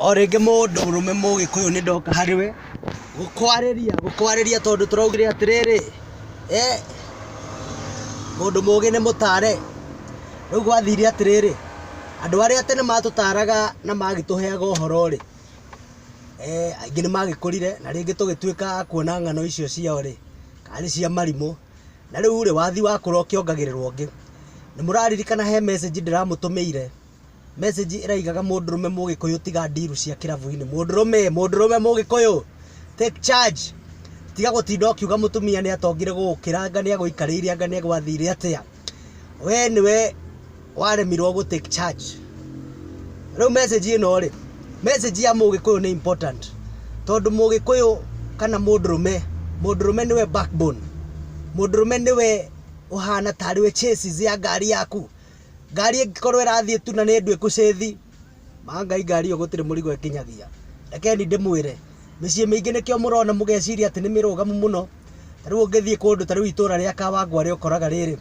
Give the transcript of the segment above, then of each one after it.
O rĩngĩ mũndũrũme mũgĩkũyũ nĩ ndoka harĩ we gũkwarĩria, gũkwarĩria tondũ tũraugire atĩrĩrĩ, mũndũ mũgĩ nĩ mũtare. Rĩu gwathire atĩrĩrĩ, andũ arĩa tene matũtaraga na magĩtũheaga ũhoro rĩ, aingĩ nĩ magĩkũrire na rĩngĩ tũgĩtuĩka a kuona ng'ano icio ciao rĩ, kana nĩ cia marimũ. Na rĩu rĩ, wathiĩ wakũra ũkĩongagĩrĩrwo ũngĩ. Nĩ mũraririkana he message ndĩramũtũmĩire? Message ĩraigaga mũndũrũme mũgĩkũyũ tiga ndiru cia kĩrabu-inĩ. Mũndũrũme, mũndũrũme mũgĩkũyũ, take charge. Tiga gũtinda ũkiuga mũtumia nĩ atongire gũgũkĩra anga nĩ agũikarĩire anga nĩ agwathire atĩa. We nĩwe waremirwo gũ take charge. Rĩu message ĩno rĩ, message ya mũgĩkũyũ nĩ important. Tondũ mũgĩkũyũ kana mũndũrũme, mũndũrũme nĩwe backbone. Mũndũrũme nĩwe ũhana tarĩ we chassis ya ngari yaku. ngari ĩngĩkorwo ĩrathiĩ tu na nĩ nduĩku cĩthi ma ngai ngari ĩyo gũtirĩ mũrigo ĩkinyagia rekeni ndĩmwĩre mĩciĩ mĩingĩ nĩkĩo mũrona mũgeciria atĩ nĩ mĩrũgamu mũno ta rĩu ũngĩthiĩ kũndũ ta rĩu itũra rĩa kawangware ũkoraga rĩrĩ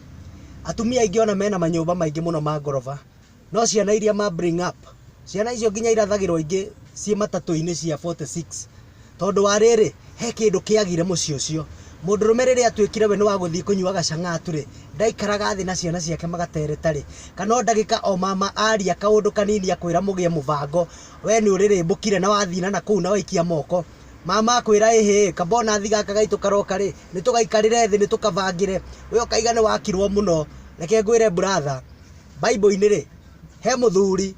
atumia aingĩ ona mena manyũmba maingĩ mũno ma ngoroba no ciana iria ma bring up ciana icio nginya irathagĩrwo ingĩ ciĩ matatũ-inĩ cia 46 Tondũ wa rĩrĩ, he kĩndũ kĩagire mũciĩ ũcio. Mũndũrũme rĩrĩa atuĩkire we nĩ wa gũthiĩ kũnyua gacang'atu-rĩ, ndaikaraga thĩ na ciana ciake magatereta-rĩ, kana o ndagĩka o mama aria kaũndũ kanini akwĩra mũgĩe mũbango, we nĩ ũrĩrĩmbũkire na wathiĩ na nakũu na waikia moko. Mama akwĩra ĩhĩ, kaba onathi gaka gaitũ karoka-rĩ, nĩ tũgaikarĩre thĩ nĩ tũkabangĩre. We ũkaiga nĩ wakirwo mũno. Reke ngwĩre brother, Bible-inĩ-rĩ, he mũthuri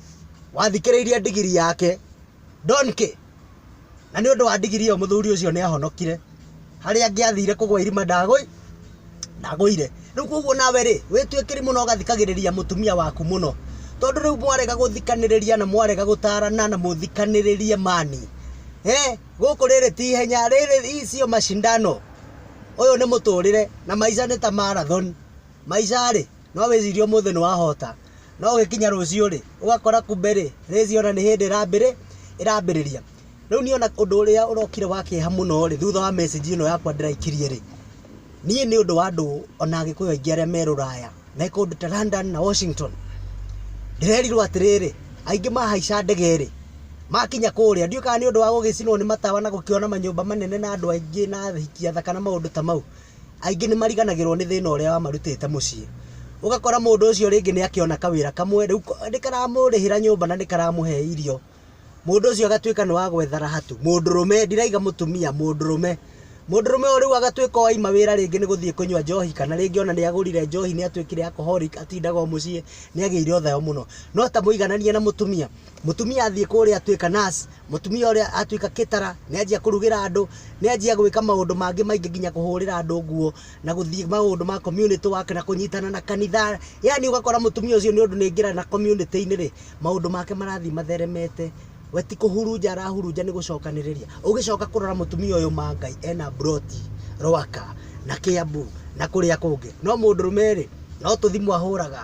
wathikĩrĩirie ndigiri yake, donkey, Na nĩ ũndũ wa ndigiri ĩyo mũthuri ũcio nĩ ahonokire. Harĩa angĩathire kũgwa irima ndagũi, ndagũire. Rĩu koguo nawe rĩ, wĩtue kĩrimũ na ũgathikagĩrĩria mũtumia waku mũno. Tondũ rĩu mwarega gũthikanĩrĩria na mwarega gũtarana na mũthikanĩrĩrie mani. Eh, gũkũ rĩrĩ ti ihenya, rĩrĩ hii sio mashindano. Ũyũ nĩ mũtũrĩre, na maica nĩ ta marathon. Maica rĩ, No wĩcirie ũmũthĩ nĩ wahota, no ũgĩkinya rũciũ-rĩ, ũgakora kumbe-rĩ, rĩci ona nĩ hĩndĩ ĩrambĩrĩria. Rĩu niĩ ona ũndũ ũrĩa ũrokire wa kĩeha mũno-rĩ, thutha wa message ĩno yakwa ndĩraikirie-rĩ, niĩ nĩ ũndũ wa andũ ona Agĩkũyũ aingĩ arĩa me rũraya, me kũndũ ta London na Washington, ndĩrerirwo atĩrĩrĩ, aingĩ mahaica ndege-rĩ, makinya kũrĩa, ndiũĩ kana nĩ ũndũ wa gũgĩcinwo nĩ matawa na gũkĩona manyũmba manene na andũ aingĩ na athaki athaka na maũndũ ta mau, aingĩ nĩ mariganagĩrwo nĩ thĩna ũrĩa wamarutĩte mũciĩ. Ũgakora mũndũ ũcio rĩngĩ nĩ akĩona kawĩra kamwe, rĩu nĩ karamũrĩhĩra nyũmba na nĩ karamũhe irio, mũndũ ũcio agatuĩka nĩ wa gwethara hatu, mũndũrũme, ndirauga mũtumia, mũndũrũme. Mũndũrũme ũyũ rĩu agatuĩka o aima wĩra rĩngĩ nĩ gũthiĩ kũnyua njohi kana rĩngĩ o na nĩ agũrire njohi nĩ atuĩkire alcoholic atindaga o mũciĩ, nĩ agĩire o thayo mũno. No ta mũigananie na mũtumia, Mũtumia athiĩ kũrĩa atuĩka nurse, mũtumia ũrĩa atuĩka caterer, nĩ anjia kũrugĩra andũ, nĩ anjia gwĩka maũndũ mangĩ maingĩ nginya kũhũrĩra andũ nguo, na gũthiĩ maũndũ ma community work na kũnyitana na kanitha, yaani ũgakora mũtumia ũcio nĩ ũndũ nĩ aingĩra na community-inĩ rĩ, maũndũ make marathiĩ matheremete, we ti kũhurunja arahurunja nĩ gũcokanĩrĩria. Ũgĩcoka kũrora mũtumia ũyũ ma Ngai ena mburoti Rwaka, na Kĩambu, na kũrĩa kũngĩ, no mũndũrũme rĩ, no tũthimũ ahũraga,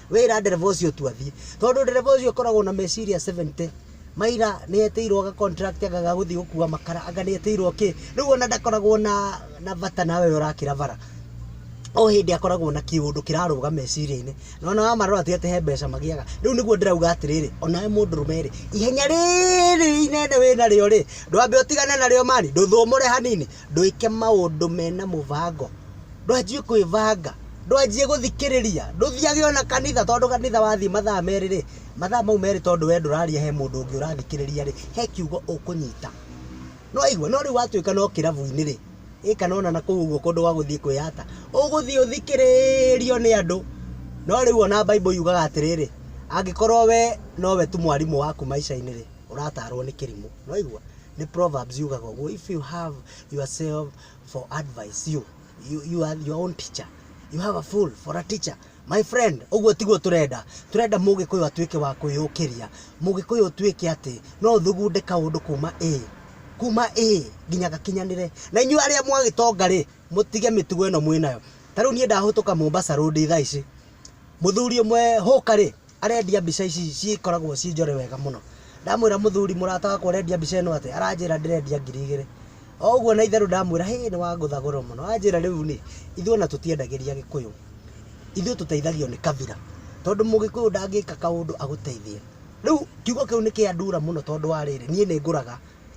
Wĩra ndereba ũcio tu athiĩ. Tondũ ndereba ũcio ũkoragwo na meciria 70. Maira nĩ etĩirwo ga contract anga ga gũthiĩ gũkua makara, anga nĩ etĩirwo kĩ. Rĩu ona ndakoragwo na na bata nawe ũrĩa ũrakĩra bara. O hĩndĩ akoragwo na kĩũndũ kĩrarũga meciria-inĩ. Na ona wamarora ti atĩ he mbeca magĩaga. Rĩu nĩguo ndĩrauga atĩrĩrĩ, onawe mũndũrũme rĩ, ihenya rĩrĩ inene wĩnarĩo rĩ, ndwambe ũtigane narĩo man, ndũthũmũre hanini. ndwĩke maũndũ mena mũbango, ndwanjie kwĩbanga, ndwanjie gũthikĩrĩria, ndũthiage ona kanitha tondũ kanitha wathiĩ mathaa merĩ rĩ, mathaa mau merĩ tondũ we ndũraria he mũndũ ũngĩ ũrathikĩrĩria rĩ, he kiugo ũkũnyita. Nĩ waigua? No rĩu watuĩka no kĩrabu-inĩ rĩ, ĩ kana ona na kũu ũguo kũndũ gwa gũthiĩ kwĩyata, ũgũthiĩ ũthikĩrĩrio nĩ andũ. No rĩu ona Bible yugaga atĩrĩrĩ, angĩkorwo we nowe tu mwarimũ waku maica-inĩ rĩ, ũratarwo nĩ kĩrimũ nĩwaigua nĩ proverbs yugaga ũguo if you have yourself for advice you, you, you are your own teacher you have a fool for a teacher my friend ũguo tiguo tũrenda tũrenda mũgĩkũyũ atuĩke wa kwĩyũkĩria mũgĩkũyũ ũtuĩke atĩ no thugunde kaũndũ kuma a kuma a nginya gakinyanĩre na inyuĩ arĩa mwagĩtonga rĩ mũtige mĩtugo ĩno mwĩnayo ta rĩu niĩ ndahũtũka mombasa road thaa ici mũthuri ũmwe hũka rĩ Arendia mbica ici cikoragwo ciĩ njore wega mũno. Ndamwĩra mũthuri mũrata wakwa ũrendia mbica ĩno atĩa, aranjĩra ndĩrendia ngiri igĩrĩ. O ũguo na itherũ ndamwĩra hĩ nĩ wangũtha goro mũno. Anjĩra rĩu niĩ, ithuĩ ona tũtiendagĩria Gĩkũyũ, ithuĩ tũteithagio nĩ kabira. Tondũ Mũgĩkũyũ ndangĩka kaũndũ agũteithie. Rĩu kiugo kĩu nĩ kĩandura mũno tondũ wa rĩrĩ, niĩ nĩ ngũraga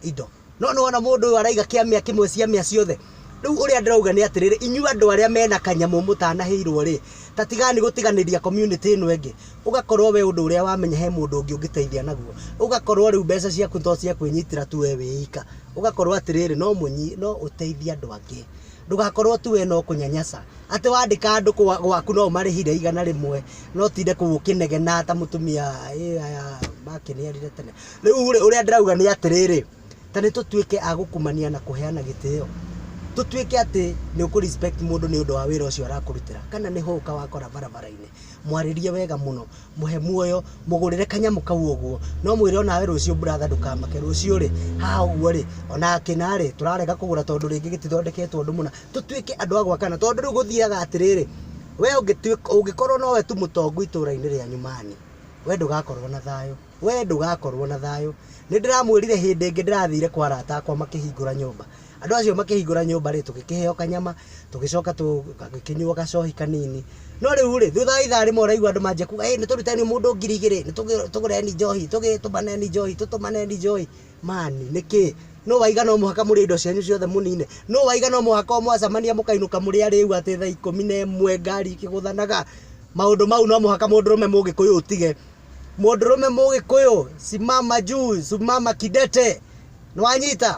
indo. No nĩwona mũndũ ũyũ araiga kĩamĩa kĩmwe ciamĩa ciothe. Rĩu ũrĩa ndĩrauga nĩ atĩrĩrĩ, inyuĩ andũ arĩa mena kanyamũ mũtanahĩirwo rĩ, ta tigani gũtiganĩria community ĩno ĩngĩ, ũgakorwo we ũndũ ũrĩa wamenya he mũndũ ũngĩ ũngĩteithia naguo, ũgakorwo rĩu mbeca ciaku to cia kwĩnyitĩra tu we wĩ ika, ũgakorwo atĩrĩrĩ no mũnyi, no ũteithie andũ angĩ. Ndũgakorwo tu we no kũnyanyaca, atĩ wandĩka andũ gwaku no ũmarĩhire igana rĩmwe, no ũtinde kũu ũkĩnegena ta mũtumia ĩĩ aya makĩniarire tene. Rĩu rĩ, ũrĩa ndĩrauga nĩ atĩrĩrĩ, ta nĩ tũtuĩke a gũkumania na kũheana gĩtĩo. Tũtuĩke atĩ nĩ ũkũ respect mũndũ nĩ ũndũ wa wĩra ũcio arakũrutĩra. Kana nĩ hũka wakora barabara-inĩ, mwarĩrie wega mũno, mũhe muoyo, mũgũrĩre kanyamũ kau ũguo. Na ũmwĩre o nawe rũciũ brother ndũkamake, rũciũ rĩ, haha ũguo rĩ, o na akĩna rĩ, tũrarega kũgũra tondũ rĩngĩ gĩtithondeketwo ũndũ mũna. Tũtuĩke andũ a gwakana. Tondũ rĩu gũthiaga atĩrĩrĩ, we ũngĩkorwo nowe tu mũtongu itũũra-inĩ rĩanyu man, we ndũgakorwo na thayũ. Wee ndũgaakorũo na thayũ. Nĩ ndĩramwĩrire hĩndĩ ĩngĩ ndĩrathiire kwa arata akwa makĩhingũra nyũmba. Andũ acio makĩhingũra nyũmba-rĩ, tũgĩkĩheo kanyama, tũgĩcoka tũgĩkĩnyua gacohi kanini. No rĩu-rĩ, thutha wa ithaa rĩmwe ũraigua andũ manjia kuuga, 'Ĩ nĩ tũruteni mũndũ ngiri igĩrĩ, nĩ tũgũreni njohi, tũmaneni njohi, tũtũmaneni njohi. Man, nĩ kĩĩ? Nũ waiga no mũhaka mũrĩe indo cianyu ciothe mũnine? Nũ waiga no mũhaka o mwacamania mũkainũka mũrĩ arĩĩu atĩ thaa ikũmi na ĩmwe ngari ikĩgũthanaga? Maũndũ mau no mũhaka mũndũrũme Mũgĩkũyũ ũtige. mũndũrũme mũgĩkũyũ simama juu simama kidete nĩwanyita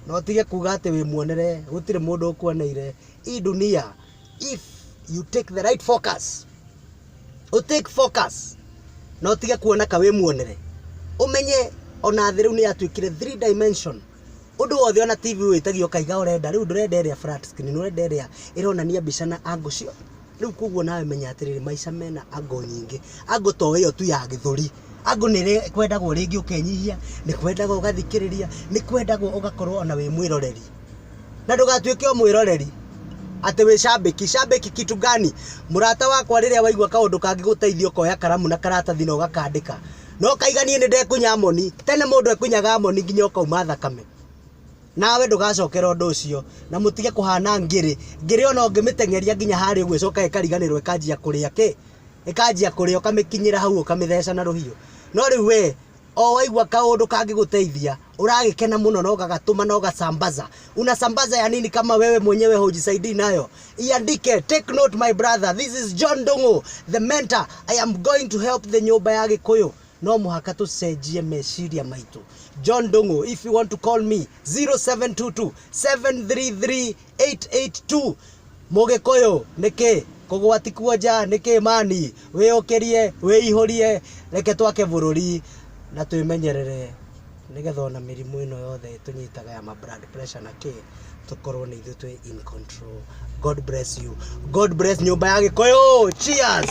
na ũtige kuga atĩ wĩmuonere gũtirĩ mũndũ ũkuoneire hii dunia if you take the right focus u take focus na ũtige kuona ka wĩmuonere ũmenye ona thĩ rĩu nĩ yatuĩkire three dimension ũndũ wothe ona tv wĩtagio kaiga ũrenda rĩu ndũrenda ĩrĩa flat screen ũrenda ĩrĩa ĩronania mbica na angle ciothe Rĩu koguo nawe menya atĩrĩrĩ, maica mena angle nyingĩ. Angle to ĩyo tu ya gĩthũri. Angle nĩ ĩrĩa kwendaga rĩngĩ ũkenyihia, nĩ kwendaga ũgathikĩrĩria, nĩ kwendaga ũgakorwo ona wĩ mwĩroreri. Na ndũgatuĩke o mwĩroreri, atĩ wĩ shabiki. Shabiki kitu gani? Mũrata wakwa rĩrĩa waigua kaũndũ kangĩgũteithia ũkoya karamu na karatathi na ũgakandĩka. No kaiganie nĩ ndekunya moni. Tene mũndũ ekunyaga moni nginya ũkauma thakame. Nawe ndũgacokera ũndũ ũcio, na mũtige kũhaana ngĩrĩ. Ngĩrĩ o na ũngĩmĩteng'eria nginya harĩa ũguo ĩcokaga ĩkariganĩrwo ĩkanjia kũrĩa kĩ? Ĩkanjia kũrĩa, ũkamĩkinyĩra hau ũkamĩtheca na rũhiũ. No rĩu wee, o waigua kaũndũ kangĩgũteithia, ũragĩkena mũno na ũgagatũma na ũgasambaza. Unasambaza ya nini kama wewe mwenyewe hujisaidii nayo? Iandike, take note my brother, this is John Ndung'u, the mentor, I am going to help the Nyũmba ya Gĩkũyũ. no mũhaka tũcenjie meciria maitũ john ndũng'ũ if you want to call me 0722 733 882 mũgĩkũyũ nĩkĩ kũgwati kuonja nĩkĩ mani wĩyũkĩrie wĩihũrie reke twake bũrũri na twĩmenyerere nĩgetha ona mĩrimũ ĩno yothe ĩtũnyitaga ya ma blood pressure na kĩ tũkorwo nĩ ithuĩ twĩ in control god bless you god bless nyũmba ya gĩkũyũ cheers